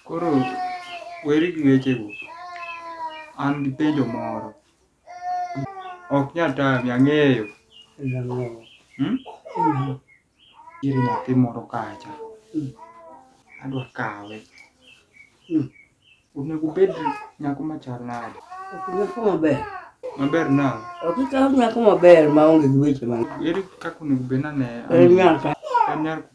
Koro weri gi wechego, an gi penjo moro. Ok nyal tami, ang'eyo. Hmm? Nitiere nyathi moro kacha. Adwa kawe. Onego obed nyako machal nade? Nyako maber. Maber nade? Ok ikaw nyako maber ma onge gi weche mang'eny. Ere kaka onego obed nane? En nyako. En nyako.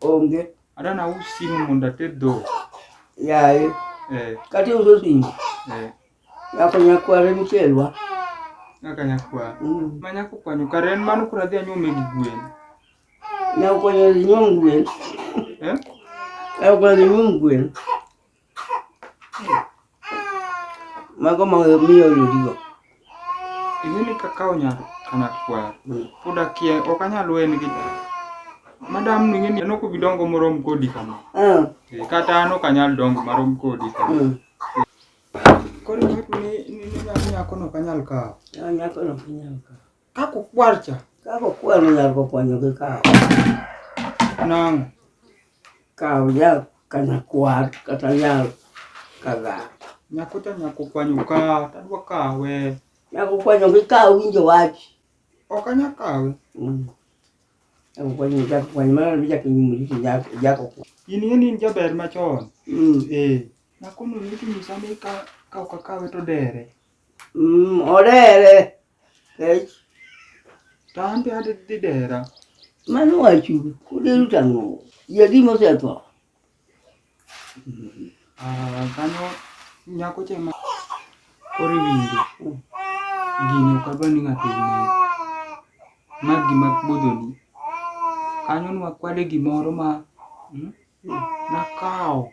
Onge. Ada na us simu mondo ated dhok. Yaye. Eh. Kati uso simu. Eh. Nyako nyakware michelwa. Nyaka nyakwa. Mm. Ma nyako kwanyo kare en mano kura dhi anyume gi gwen. Nyako kwanyo nyuom gwen. Eh? Nyako kwanyo nyuom gwen. Mago ma miyo oyudigo. Ing'eni kaka onyalo kana kwar. Mm. Pod akia ok anyal wen gi madam ni ng'eni anoko bidongo morom kodi kama. Mm. Eh, kata an ok anyal dongo marom kodi kama. Mm. Koro ni ni ni nyako no kanyal kawo. Nyako no kanyal kawo. Kako kwar cha. Kako kwar ni nyar kokwanyo gi kawo. Nang. Kawo ya kana kwar kata ya kaga. Nyakuta nyakokwanyo ka tadwa kawe. Nyakokwanyo gi kawo winjo wach. Ok anya kawe. Mm. Nyakokwanyo nyakokwanyo mana ni jakinyumuri jako. In in in jaber machon. Mm. Eh. Nakono ni kinyisa ni ka kawo kakawe to dere. Mm, orere. Kech. To an be adhi dhi dera. Mano wachu, kuderu tang'o. Yadi mosetho. Ah, kanyo nyako cha ma koro iwinjo. Gini ok adwa ni ng'ato ong'e. Ma gima budhoni. Kanyo nwakwade gimoro ma hmm, nakawo.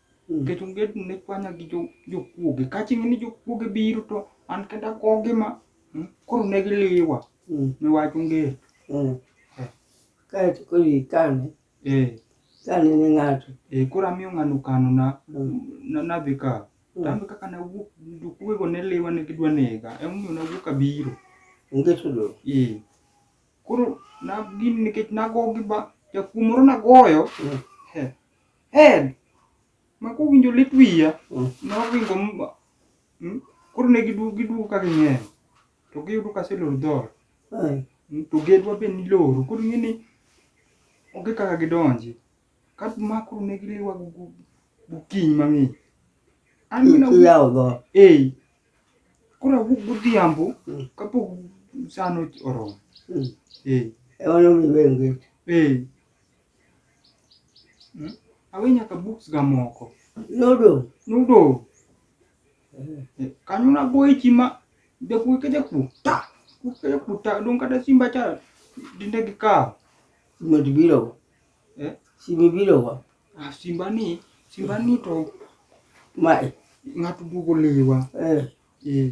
Nikech onge ni ne kwanya gi jokuoge. Ka chieng' ni jokuoge biro to an kenda akogi ma hmm, koro ne giliwa. Hmm. Ne wach onge. Hmm. Eh. Kae to koro ikane. Eh. Kane ne ng'ato. Eh, koro amiyo ng'ano kano na nadhi ka. Tambe kaka na wuok jokuoge ne liwa ne gidwa nega. Emomiyo na wuok abiro. Onge tudo. Eh. Koro na gin nikech nagogi ba jakuo moro nagoyo. Eh. Hell! Ma kowinjo lit wiya, Mm. noringo m- mm, koro ne giduogo giduogo ka ging'eny to giyudo ka aseloro dhot Ai. Mm, to gedwa be niloro koro ing'e ni onge kaka gidonji ka ma koro ne giliwa go- go- gokinyi mang'ich an Ki- gina Kiyawo dhoot. ei koro awuok godhiambo Mm. kapok sano oromo Mm. ei Ema nomiyo iweyo ngech. ei Hmm? Awe nyaka books ga moko. Nodo. Nodo. Eh. Kanyo na boy chima de ku ke de ku ta. Ku ke de ku ta don kada simba cha dinde gi ka. Mo di biro. Eh? Simi biro wa. Ah simba ni, simba ni to. Mai. Ngatu dugo lewa. Eh. Eh.